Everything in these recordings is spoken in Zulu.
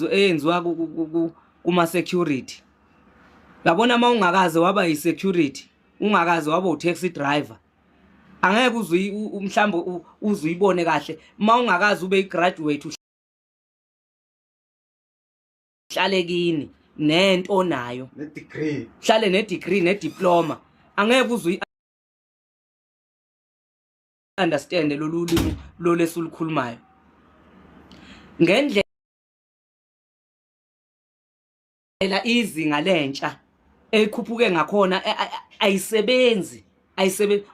eyenziwa kuma security yabona uma ungakaze waba yi security ungakaze waba u taxi driver angeke uzwe mhlawumbe uzuyibone kahle uma ungakaze ube igraduate uhlale kini nento onayo ne degree uhlale ne degree ne diploma angeke uzwe understand lolu limi lolesulukhulumayo ngendlela ela izinga lentsha ekhuphuke ngakhona ayisebenzi ayisebenzi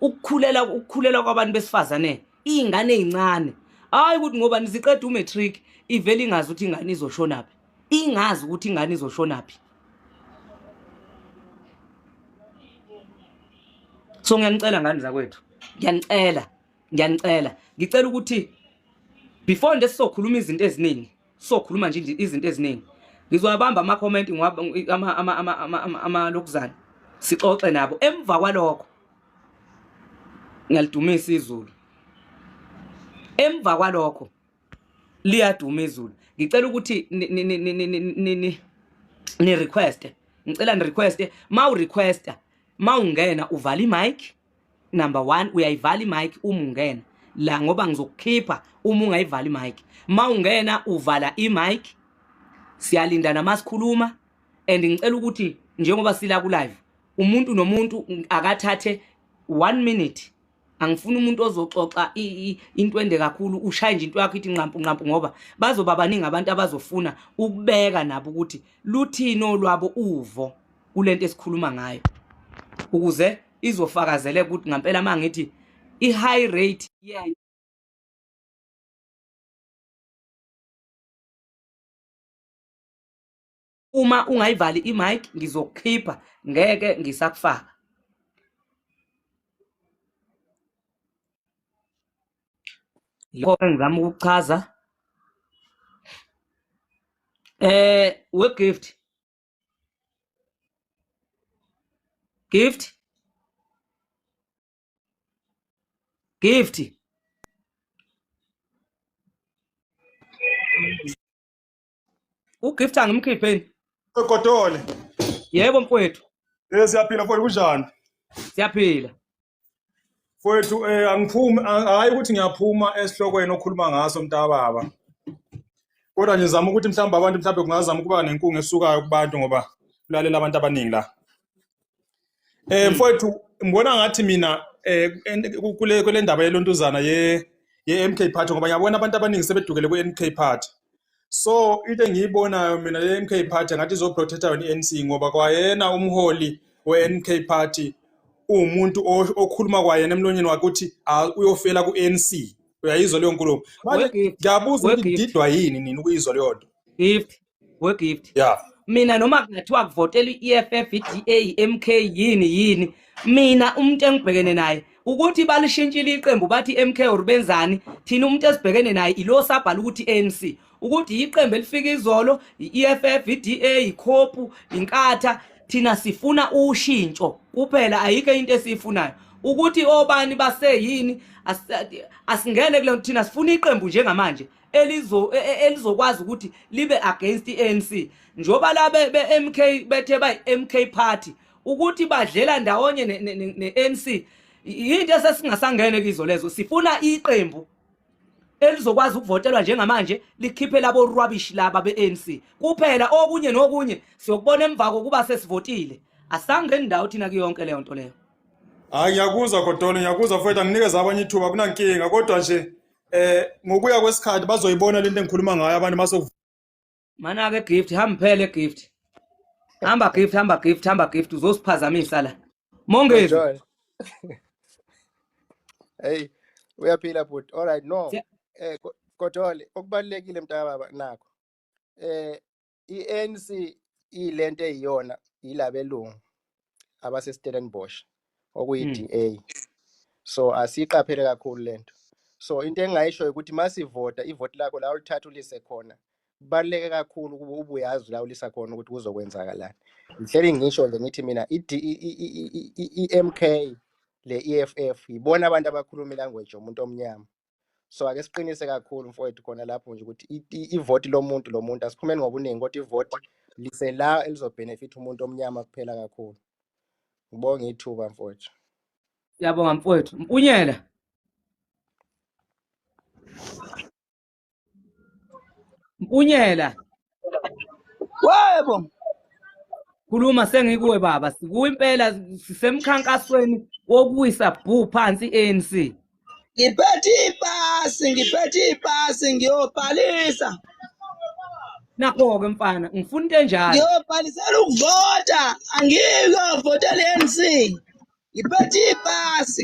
ukukhulela ukukhulela kwabantu besifazane izingane ezincane hayi ukuthi ngoba niziqeda umatric ivele ingazi ukuthi ingane izoshonaphi ingazi ukuthi ingane izoshonaphi so ngiyanicela ngani zakwethu ngiyanicela ngiyanicela ngicela ukuthi before nje sizokhuluma izinto eziningi sizokhuluma nje izinto eziningi ngizowabamba ama comment ama ama ama ama lokuzana sixoxe nabo emva kwalokho ngiyalidumisa izulu emva kwalokho liyaduma izulu ngicela ukuthi ni request ngicela ni request ma u requesta ma ungena uvala imic number 1 uyayivala imic uma ungena la ngoba ngizokukhipha uma ungayivala imic ma ungena uvala imic siyalinda namasikhuluma and ngicela ukuthi njengoba sila ku live umuntu nomuntu akathathe 1 minute angifuni umuntu ozoxoxa into ende kakhulu ushaye nje into yakho ithi nqampu nqampu ngoba bazoba baningi abantu abazofuna ukubeka nabo ukuthi luthini olwabo uvo kulento esikhuluma ngayo ukuze izofakazele ukuthi ngampela mangithi i high rate yeah uma ungayivali imic ngizokukhipha ngeke ngisakufaka yikho engizama ukuchaza eh we gift gift gift ugift angimkhipheni egodole yebo mfowethu eh siyaphila mfowethu kunjani siyaphila mfowethu eh angiphumi hayi ukuthi ngiyaphuma esihlokweni okhuluma ngaso mntababa kodwa ngizama ukuthi mhlawumbe abantu mhlawumbe kungazama ukuba nenkungu esukayo kubantu ngoba kulalela abantu abaningi la Eh mfowethu ngibona ngathi mina eh kule kule ndaba yelontuzana ye ye MK Party ngoba ngiyabona abantu abaningi sebedukele ku MK Party. So into engiyibonayo mina le MK Party ngathi izo protect yona iNC ngoba kwayena umholi we MK Party umuntu okhuluma kwayena emlonyeni wakhe ukuthi uyofela ku NC. Uyayizwa leyo nkulumo. Manje ngiyabuza ukuthi ngididwa yini nini ukuyizwa leyo nto. Gift we gift yeah mina noma kungathiwa kuvotela i-EFF i-DA MK yini yini mina umuntu engibhekene naye ukuthi balishintshile iqembu bathi MK or benzani thina umuntu esibhekene naye ilo sabhala ukuthi ANC ukuthi iqembu elifika izolo i-EFF i-DA ikhopu inkatha thina sifuna ushintsho kuphela ayike into esiyifunayo ukuthi obani baseyini asingene kule thina sifuna iqembu njengamanje elizo e, e, elizokwazi ukuthi libe against iANC njoba la be, be MK bethe bay MK party ukuthi badlela ndawonye neANC ne, ne, into esesingasangene kizo lezo sifuna iqembu elizokwazi ukuvotelwa njengamanje likhiphe labo rubbish laba beANC kuphela okunye nokunye siyokubona emva kokuba sesivotile asangeni ndawo thina kuyonke leyo nto leyo hayi ngiyakuzwa godolo ngiyakuzwa mfowethu anginikeza abanye ithuba kunankinga kodwa nje eh ngokuya kwesikhathi bazoyibona lento engikhuluma ngayo abantu maso mana ke gift hamba phele gift hamba gift hamba gift hamba gift uzosiphazamisa la mongezi hey uyaphila bhuti all right no eh kodwa okubalekile mntaka baba nakho eh i-ANC iyilento eyiyona yilabelungu abaseStellenbosch okuyi-DA hmm. so asiyiqaphele kakhulu lento so into engingayisho ukuthi masivota ivoti lakho la ulithatha ulise khona kubaluleke kakhulu ukuba ubuyazi la ulisa khona ukuthi kuzokwenzakalani ngihleli ngisho nje ngithi mina i-MK le-EFF yibona abantu abakhuluma ilanguage yomuntu omnyama so ake siqinise kakhulu mfowethu khona lapho nje ukuthi ivoti lomuntu lomuntu asiphumeni ngobuningi kodwa ivoti lisela elizobhenefitha umuntu omnyama kuphela kakhulu ngibonge ithuba mfowethu siyabonga mfowethu mpunyela mpunyela webo khuluma sengikuwe baba sikuwe impela sisemkhankasweni wokuwisa bhu phansi i-anc ngiphethe ipasi ngiphethe ipasi ngiyobhalisa nakho-ke mfana ngifuna into enjalo ngiyobhalisela ukuvota angiyovotela i-anc ngiphethe ipasi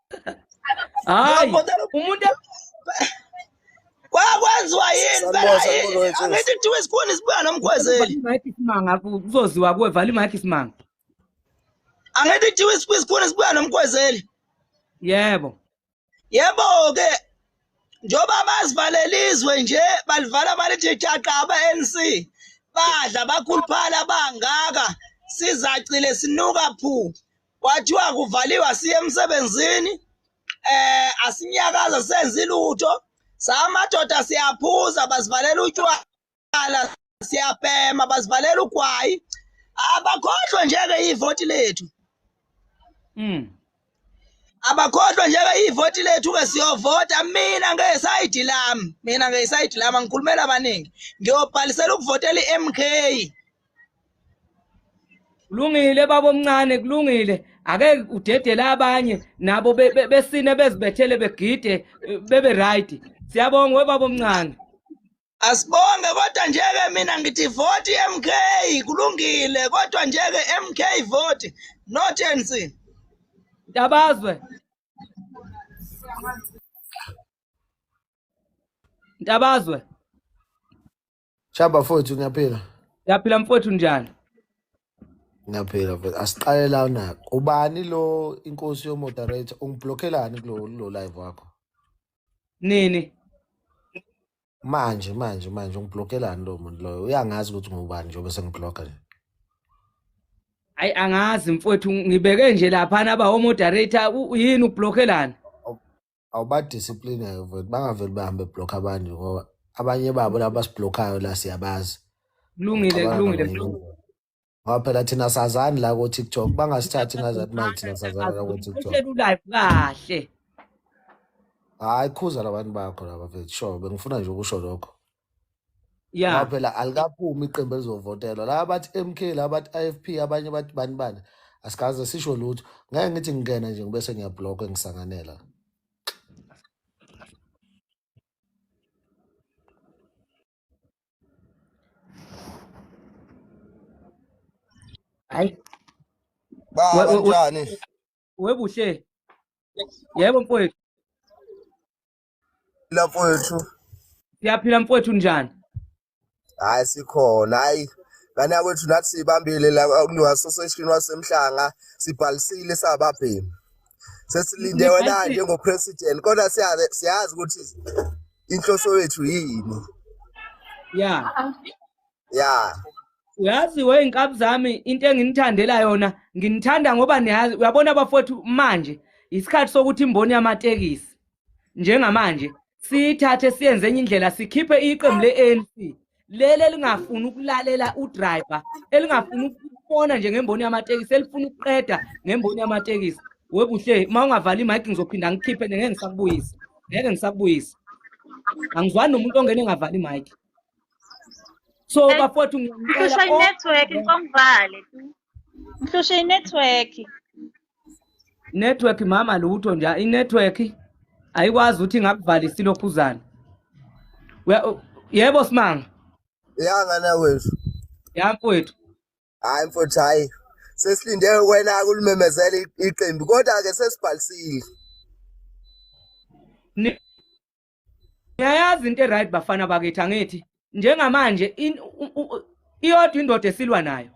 hayi umuntu kwakwenziwa yini angithi kuthiwa isikhona isibuya nomkhwezeli simanga kuzoziwa kuwe vala imayikhi simanga angithi kuthiwa isikhona isibuya nomkhwezeli yebo yebo ke njengoba bazivalela izwe nje balivala balithi thaqa aba-nc badla bakhuluphala bangaka sizacile sinuka phu kwathiwa kuvaliwe asiye emsebenzini eh asinyakaza senze lutho samadoda siyaphuza basivalela utywala siyabhema basivalela ugwayi abakhohlwe njeke ivoti lethu mm abakhohlwe njeke ivoti lethu ke siyovota mina ngesayidi lami mina ngesayidi lami angikhulumela abaningi ngiyobhalisela ukuvotela i-MK kulungile baba omncane kulungile ake udedele abanye nabo besine bezibethele begide bebe right siyabonga webaba omncane asibonge kodwa njeke mina ngithi vote MK kulungile kodwa njeke MK vote not ANC Ntabazwe Ntabazwe Chaba mfowethu ngiyaphila. Ngiyaphila mfowethu njani? Ngiyaphila mfowethu. Asiqale la na. Ubani lo inkosi yo moderator ungiblockelani kulo lo live wakho? Nini? Manje manje manje ungiblockelani lo muntu loyo? Uyangazi ukuthi ngubani njengoba sengiblocka nje. Hayi angazi mfowethu ngibeke nje lapha naba ho moderator yini ublockelani? awubadiscipline mfowethu bangaveli bahambe block abantu ngoba abanye babo laba basiblokhayo la siyabazi kulungile Abana kulungile ngamanyala. mlungu ngoba phela thina sazani la ko tiktok bangasithathi ngazathi manje thina sazani la ko tiktok uhleli ulive kahle hayi khuza labantu bakho laba mfethu sure bengifuna nje ukusho lokho ya ngoba phela alikaphumi iqembu elizovotelwa laba bathi MK laba bathi IFP abanye bathi bani bani asikaze sisho lutho ngeke ngithi ngingena nje ngibe sengiyablock ngisanganela hayi ba we- we- we- kanjani webuhle yebo mfowethu la mfowethu siyaphila mfowethu njani hayi sikhona hayi ngane yakwethu nathi siyibambile la kunewasoseshini wasemhlanga sibhalisile sababhemi sesilinde wena njengopresident kodwa siyazi siyazi ukuthi inhloso yethu yini ya ya uyazi we inkabi zami into enginithandela yona nginithanda ngoba niyazi uyabona bafowethu manje isikhathi sokuthi imboni yamatekisi njengamanje sithathe siyenze enye indlela sikhiphe iqembu le-anc leli elingafuni ukulalela udriver elingafuni ukubona nje ngemboni yamatekisi elifuna ukuqeda ngemboni yamatekisi webuhle uma ungavali imike ngizophinda ngikhiphe ngeke ngisakubuyisa ngeke ngisakubuyisa angizwani nomuntu ongene engavali imike so bafowethu ngiyacela network ngomvale Ngihlushe inetwork. Network mama lutho nje inetwork ayikwazi ukuthi ngakuvalisa ilokhuzana. Yebo simanga. Yanga na wethu. Yakwethu. Hayi mfuthu hayi. Sesilinde wena ulimemezela iqembu kodwa ke sesibhalisile. ngiyayazi into eright bafana bakithi angithi njengamanje iyodwa indoda esilwa nayo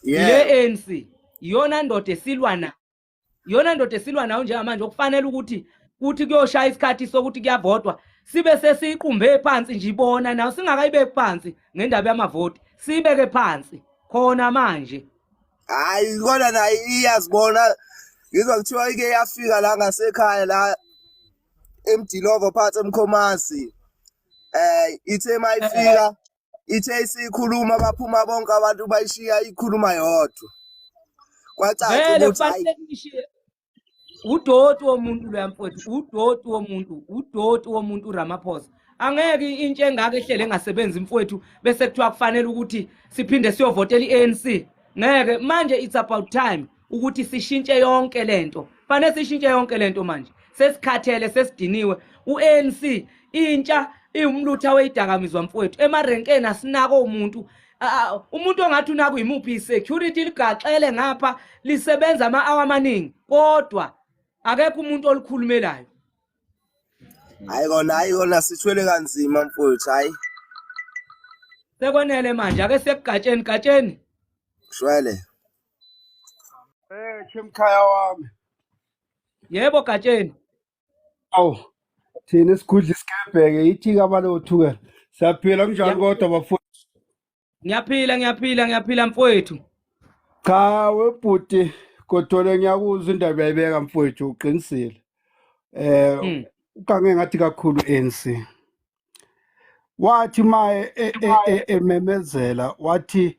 le ANC iyona ndoda esilwa nayo iyona ndoda esilwa nayo njengamanje okufanele ukuthi kuthi kuyoshaya isikhathi sokuthi kuyavotwa sibe sesiqumbe phansi nje ibona nawo singakayibeki phansi ngendaba yamavoti sibeke phansi khona manje hayi kona naye iyazibona ngizwa kuthiwa ike yafika la ngasekhaya la emdilovo phansi emkhomazi eh ithe mayifika ithe isikhuluma baphuma bonke abantu bayishiya ikhuluma yodwa kwacaca vele ukuthi hayi kufanele nishiye udoti womuntu loya mfowethu udoti womuntu udoti womuntu uramaphosa angeke intsha engaka ehlele engasebenzi mfowethu bese kuthiwa kufanele ukuthi siphinde siyovotela i-anc ngeke manje it's about time ukuthi sishintshe yonke lento fanele sishintshe yonke lento manje sesikhathele sesidiniwe uANC intsha iwumlutha weyidakamizwa mfowethu emarenkeni asinako umuntu umuntu ongathi unaku yimuphi security ligaxele ngapha lisebenza ama hour amaningi kodwa akekho umuntu olikhulumelayo hayi kona hayi kona sithwele kanzima mfowethu hayi sekwenele manje ake sekugatsheni gatsheni shwele Eh, chemkhaya wami. Yebo Gatsheni. Awu. Thina isigudla isikebheke ithi kabalothuke. Siyaphila kunjani kodwa bafowethu? Ngiyaphila ngiyaphila ngiyaphila mfowethu. Cha webhuti kodwa ngiyakuzwa indaba yayibeka mfowethu uqinisile. Eh hmm. ugange ngathi kakhulu ANC. Wathi maye e, e, e, ememezela wathi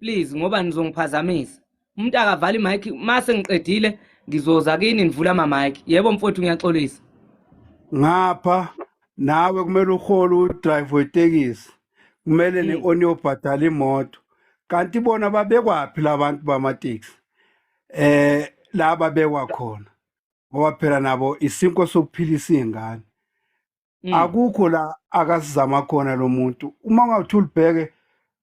please ngoba nizongiphazamisa umuntu akavali mic mase ngiqedile ngizoza kini nivula ama mic yebo mfowethu ngiyaxolisa ngapha nawe kumele uhole udrive wetekisi kumele mm. ne-oni yobhadala imoto kanti bona babekwaphi labantu bamateksi eh la babekwa khona ngoba phela nabo isinko sokuphilisa iy'ngane Mm. akukho la akasizama khona lo muntu uma ungathi ulibheke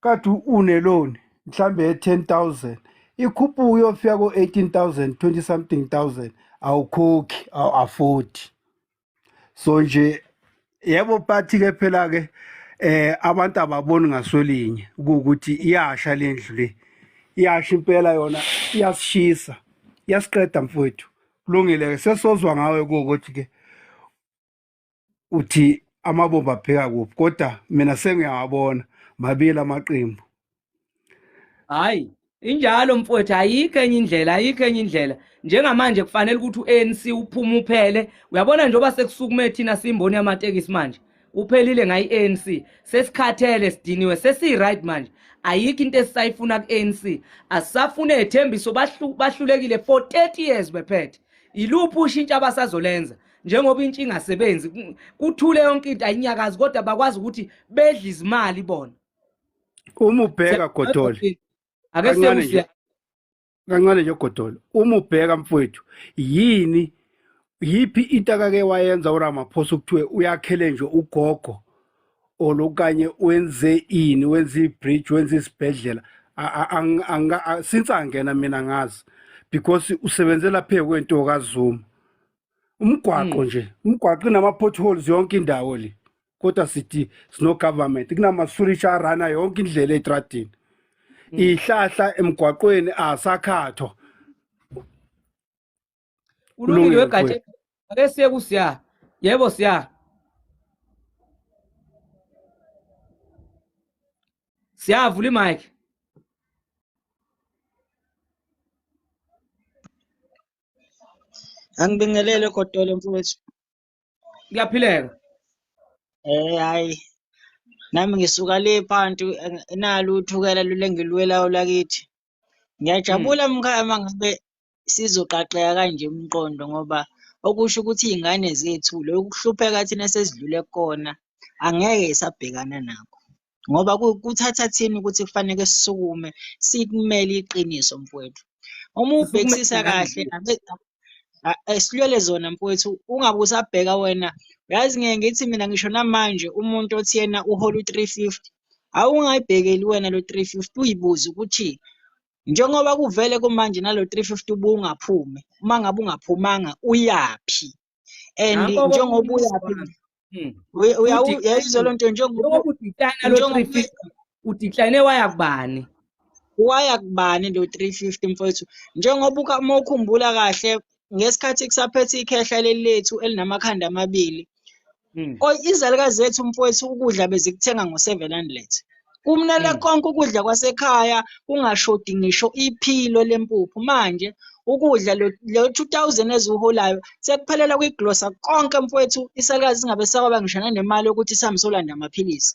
kade uneloni mhlambe ye-10000 ikhuphuka uyofika ko-18000 20 something thousand awukhokhi awu-afodi so nje yebo bathi-ke phela-ke eh abantu ababoni ngasolinye ukuthi iyasha le ndlu le iyasha impela yona iyasishisa iyasiqeda mfowethu kulungile-ke sesozwa ngawe kuwukuthi-ke uthi amabomba apheka kuphi kodwa mina sengiyawabona mabili amaqembu hayi injalo mfowethu ayikho enye indlela ayikho enye indlela njengamanje kufanele ukuthi u-anc uphume uphele uyabona njengoba sekusukume thina simboni yamatekisi manje uphelile ngayi-anc sesikhathele sidiniwe sesiyi-right manje ayikho into esisayifuna ku-anc asisafune ethembiso bahlulekile for 30 years bephethe yiluphi ushintsho abasazolenza njengoba intsha ingasebenzi kuthule yonke into ayinyakazi kodwa bakwazi ukuthi bedla izimali bona uma ubheka godole ake sekuhle kancane nje godole uma ubheka mfowethu yini yiphi into akake wayenza uRamaphosa ukuthiwe uyakhele nje ugogo olokanye wenze ini wenze ibridge wenze isibhedlela since angena mina ngazi because usebenzela phe kwento kaZuma umgwaqo hmm. nje umgwaqo inama-potholes yonke indawo le kodwa sithi sino-government kunamasurisha arana yonke indlela etradini hmm. ihlahla emgwaqweni asakhathwa ulungile wegatsha ake siye kusiya yebo siya siyavula imike Angibingelele Godole mfowethu. Kuyaphileka. Eh hayi. Nami ngisuka le phantu nalo uthukela lulengilwelayo lakithi. Ngiyajabula hmm. mkhaya mangabe sizoqaqeka kanje umqondo ngoba okusho ukuthi iy'ngane zethu lokuhlupheka thina sesidlule kukona angeke isabhekana nakho. ngoba kuthatha thina ukuthi kufanele sisukume sikumele iqiniso mfowethu uma ubhekisisa kahle esilwele zona mfowethu ungabe usabheka wena yazi ngeke ngithi mina ngisho namanje umuntu othi yena uhola u-three fifty awungayibhekeli wena lo three fifty uyibuze ukuthi njengoba kuvele kumanje nalo three fifty ubungaphumi uma ngabe ungaphumanga uyaphi and njengoba uyaphi hmm. uyayizwa loo nto njengoba udecline waya kubani waya kubani lo 350 mfowethu njengoba uma ukhumbula kahle ngesikhathi kusaphethe ikhehla leli lethu elinamakhanda amabili hmm. izalukazi zethu mfowethu ukudla bezikuthenga ngo-seven hundred kumnele hmm. konke ukudla kwasekhaya kungashodi ngisho iphilo lempuphu manje ukudla lo 2000 eziwuholayo sekuphelela kwiglosa konke mfowethu isalukazi singabe sakwaba ngisho nanemali yokuthi sihambe solanda amaphilisi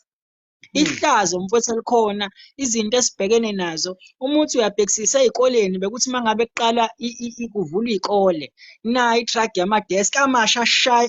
Hmm. ihlazo mfowethu elikhona izinto esibhekene nazo umuthi uyabhekisisa ezikoleni bekuthi mangabe kuqala kuvula izikole na itrack yama desk amasha shay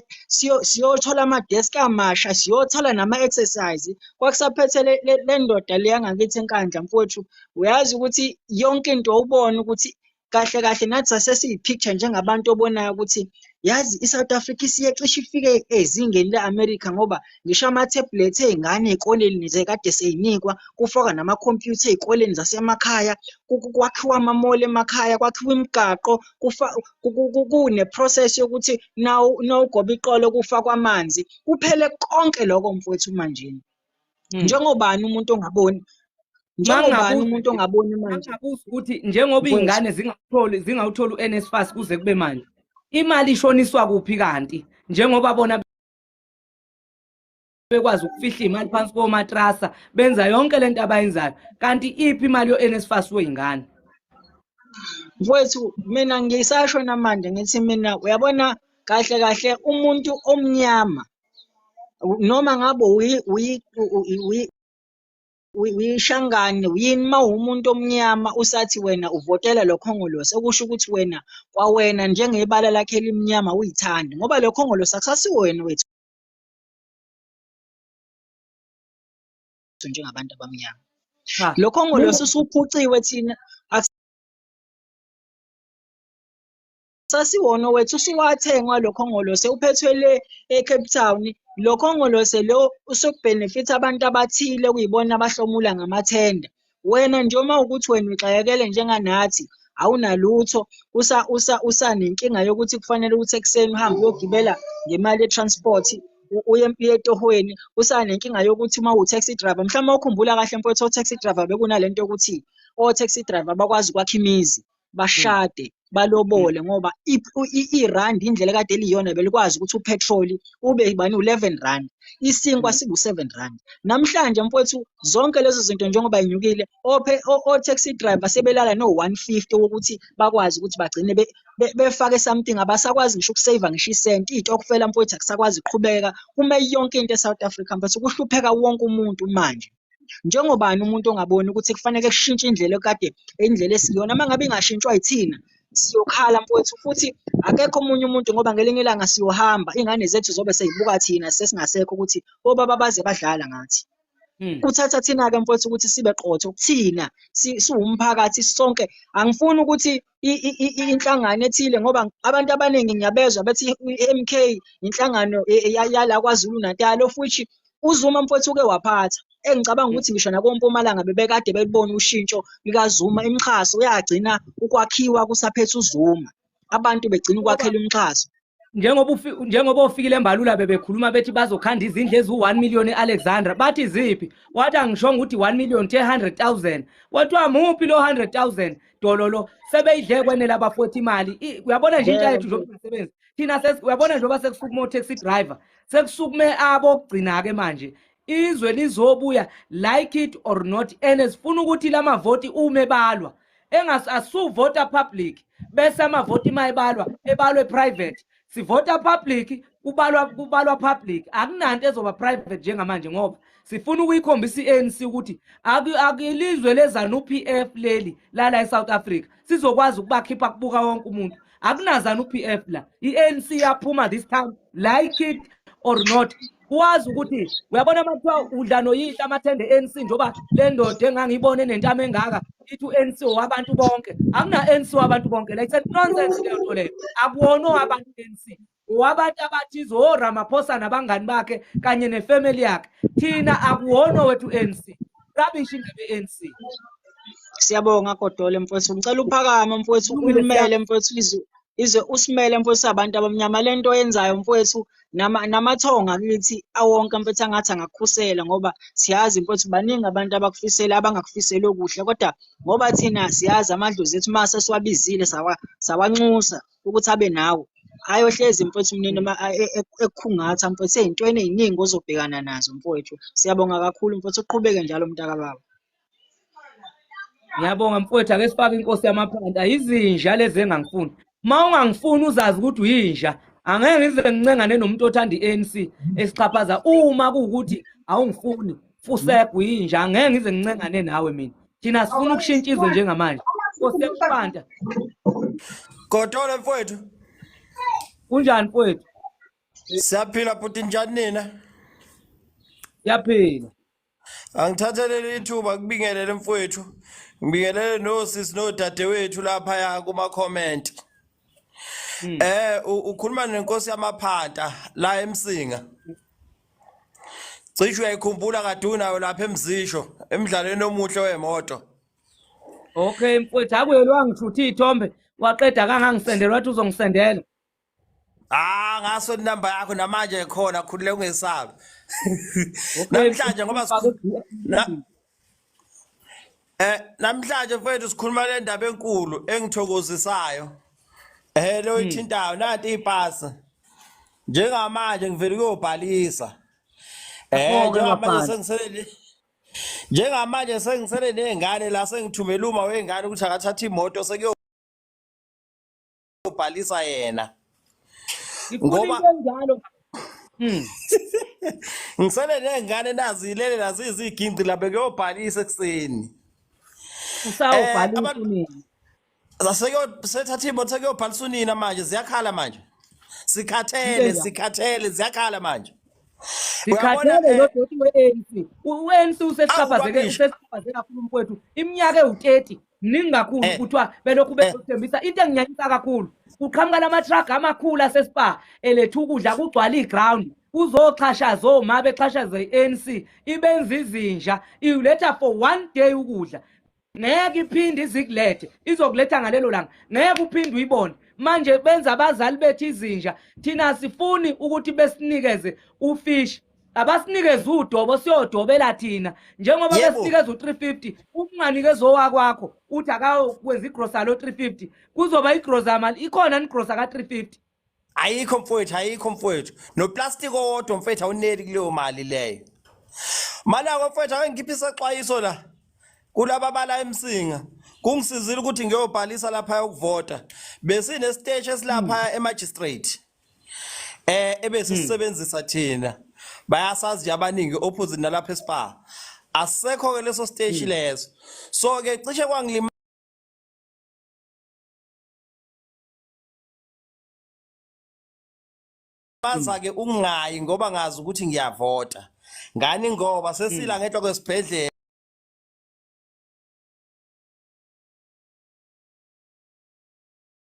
siyothola ama desk amasha siyothola nama exercise kwakusaphethe lendoda leyangakithi enkandla mfowethu uyazi ukuthi yonke into ubona ukuthi kahle kahle nathi sasesiyi-picture njengabantu obonayo ukuthi yazi i-south africa isiyecishe ifike ezingeni le-america ngoba ngisho ama-tablet ey'ngane ey'koleni zekade seyinikwa kufaka namakhompyutha ey'koleni zasemakhaya kwakhiwa amamoli emakhaya kwakhiwa imigaqo kune-process yokuthi nawugoba iqolo kufakwa amanzi kuphele konke loko mfowethu manjini Hmm. njengobani umuntu ongaboni njengobani umuntu ongaboni manje ukuthi njengoba iy'ngane zingakutholi zingawutholi u-nsfas kuze kube manje imali ishoniswa kuphi kanti njengoba bona bekwazi ukufihla iy'mali phansi komatrasa benza yonke le nto abayenzayo kanti iphi imali yo-nsfas wey'ngane mfowethu mina ngisasho namanje ngithi mina uyabona kahle kahle umuntu omnyama noma ngabe uyishangane yini uma uwumuntu omnyama usathi wena uvotela lo khongolose okusho ukuthi wena kwawena njengebala lakhe elimnyama uyithandi ngoba lo khongolose akusasiwo wena wethu njengabantu abamnyama lo khongolose usuphuciwe thina sasiwona wethu usuwathengwa lo khongolose uphethwe le eCape Town lo khongolose lo usukubhenefitha abantu abathile kuyibona abahlomula ngamathenda wena nje uma ukuthi wena uxakekele njenganathi awunalutho usa usa usanenkinga yokuthi kufanele ukuthi ekuseni uhambe uyogibela ngemali ye-transport uye etohweni usanenkinga yokuthi uma uwu-taxi driver mhlawumbe ukhumbula kahle mfowethu o-taxi driver bekunale nto yokuthi o-taxi driver bakwazi ukwakha imizi bashade balobole ngoba irand indlela kade eliyona belikwazi ukuthi uphethroli ube bani u-eleven rand isinkwa mm. sibu-seven rand namhlanje mfowethu zonke lezo zinto njengoba inyukile o-taxi driver sebelala no-one fifty wokuthi bakwazi ukuthi bagcine befake something abasakwazi ngisho ukuseyiva ngisho isenti iy'tokufela mfowethu akusakwazi kuqhubeka kume yonke into e-south africa mfowethu kuhlupheka wonke umuntu manje njengobani umuntu ongaboni ukuthi kufanele kushintshe indlela ekade indlela esiyona uma ngabe ingashintshwa yithina siyokhala mfowethu futhi akekho omunye umuntu ngoba ngelinye ilanga siyohamba ingane zethu zobe seyibuka thina sesingasekho ukuthi obaba baze badlala ngathi hmm. kuthatha thina-ke mfowethu ukuthi sibe qotho kuthina siwumphakathi sonke angifuni ukuthi inhlangano ethile ngoba abantu abaningi ngiyabezwa bethi i-MK inhlangano e, e, yala kwaZulu Natal of which uZuma mfowethu uke waphatha engicabanga ukuthi ngisho nakompumalanga bebekade belibona ushintsho likaZuma imixhaso uyagcina ukwakhiwa kusaphethe uZuma abantu begcina ukwakhela umxhaso njengoba njengoba ofikile embalula bebekhuluma bethi bazokhanda izindlu eziwu-1 million e-alexandra bathi ziphi wathi angishonga ukuthi 1 million the 100 000 kwathiwa muphi lo 100 000 dololo sebeyidle kwenela abafowethu imali uyabona nje intsha yethu njengoba sisebenzi thina uyabona njengoba sekusukume o-taxi driver sekusukume abokugcina-ke manje izwe lizobuya like it or not and sifuna ukuthi la mavoti ume balwa engas asuvota public bese amavoti uma ebalwa ebalwe private sivota public kubalwa kubalwa public akunanto ezoba private njengamanje ngoba sifuna ukuyikhombisa i-ANC ukuthi akilizwe lezanu PF leli lala eSouth Africa sizokwazi ukubakhipha kubuka wonke umuntu akunazanu PF la i-ANC yaphuma this time like it or not wazi ukuthi uyabona uma kuthiwa udla noyihla amathende ANC njengoba le ndoda engangiyibone nentama engaka ithi u-ANC wabantu bonke akuna-ANC wabantu bonke like said nonsense leyo nto leyo akuwona owabantu u-ANC wabantu abathize oramaphosa nabangani bakhe kanye nefamily yakhe thina akuwona owethu u-ANC rubbish indebe ye-ANC siyabonga kodole mfowethu ngicela uphakama mfowethu ulumele mfowethu izulu izwe usimele mfowethu abantu abamnyama lento oyenzayo mfowethu namathonga kithi awonke mfowethu angathi angakukhusela ngoba siyazi mfowethu baningi abantu abakufisela abangakufiseli okuhle kodwa ngoba thina siyazi amadlozi ethu uma sesiwabizile sawanxusa ukuthi abe nawo ayohlezi mfowethu mnini e, e, ekukhungatha mfowethu ey'ntweni ey'ningi ozobhekana nazo mfowethu siyabonga kakhulu mfowethu uqhubeke njalo mntakababa ngiyabonga mfowethu ake sifake inkosi yamaphanda izinja lezi engangifuni uma ungangifuni uzazi ukuthi uyinja angeke ngize ngincengane nomuntu othanda i-anc esixhaphaza uma kuwukuthi awungifuni fusegu yinja angeke ngize ngincengane nawe mina thina sifuna ukushintsha izwe njengamanje nkosi yamaphanda godole mfowethu kunjani mfowethu siyaphila bhuti njani nina siyaphila Angithathelele ithuba kubingelele mfowethu. Ngibingelele nosisi nodadewethu lapha ya kuma comment. Hmm. Eh u- ukhuluma nenkosi yamaphanta la eMsinga. Cishe uyayikhumbula kade unayo lapha eMzisho emdlalweni omuhle wemoto. Okay mfowethu akuyelwa ngishuthi ithombe waqeda kangangisendela wathi uzongisendela. Ah ngaso inamba yakho namanje khona khulile ungesabi. Namhlanje ngoba Eh namhlanje mfethu sikhuluma le ndaba enkulu engithokozisayo. Eh lo hmm. ithintayo nanti ipasa. Njengamanje ngivela kuyobhalisa. Eh njengamanje sengisele Njengamanje sengisele nezingane la sengithumela uma wengane ukuthi akathatha imoto sekuyo ubhalisa yena ngoba njalo hmm. ngisele nengane nazilele naziziginci labe kuyobhalisa ekuseni usawubhalisa eh, unini sethatha imoto sekuyobhalisa unina manje ziyakhala manje sikhathele sikhathele ziyakhala manje sikhathele eh, lodoti we-anc u-anc usesichaphazeke kakhulu mkwethu iminyaka ewu-30 mningi kakhulu eh. kuthiwa belokhu eh. bezothembisa into enginyanyisa kakhulu kuqhamuka lama-truck amakhulu asespa eletha ukudla kugcwala iground kuzoxhashaza oma bexhashaza i-anc ibenza izinja iletha for one day ukudla ngeke iphinde izikulethe izokuletha ngalelo langa ngeke uphinde uyibone manje benza abazali bethu izinja thina sifuni ukuthi besinikeze ufishi abasinikeze udobo siyodobela thina njengoba besinikeza u-350 ukunganikeza owakwakho uthi akakwenza igrosa lo 350 kuzoba igrosa mali ikhona nigrosa ka-350 ayikho mfowethu ayikho mfowethu noplastiki owodwa mfowethu awuneli kuleyo mali leyo mali yako mfowethu awengiphi isexwayiso la kulaba bala emsinga kungisizile ukuthi ngiyobhalisa lapha ukuvota besinesiteshi esilapha emagistrate eh ebesisebenzisa hmm. thina bayasazi abaningi opposite nalapha eSpa asekho ke leso stage hmm. leso so ke cishe kwangilima baza hmm. ke ungayi ngoba ngazi ukuthi ngiyavota ngani ngoba sesila ngenhla kwesibhedlela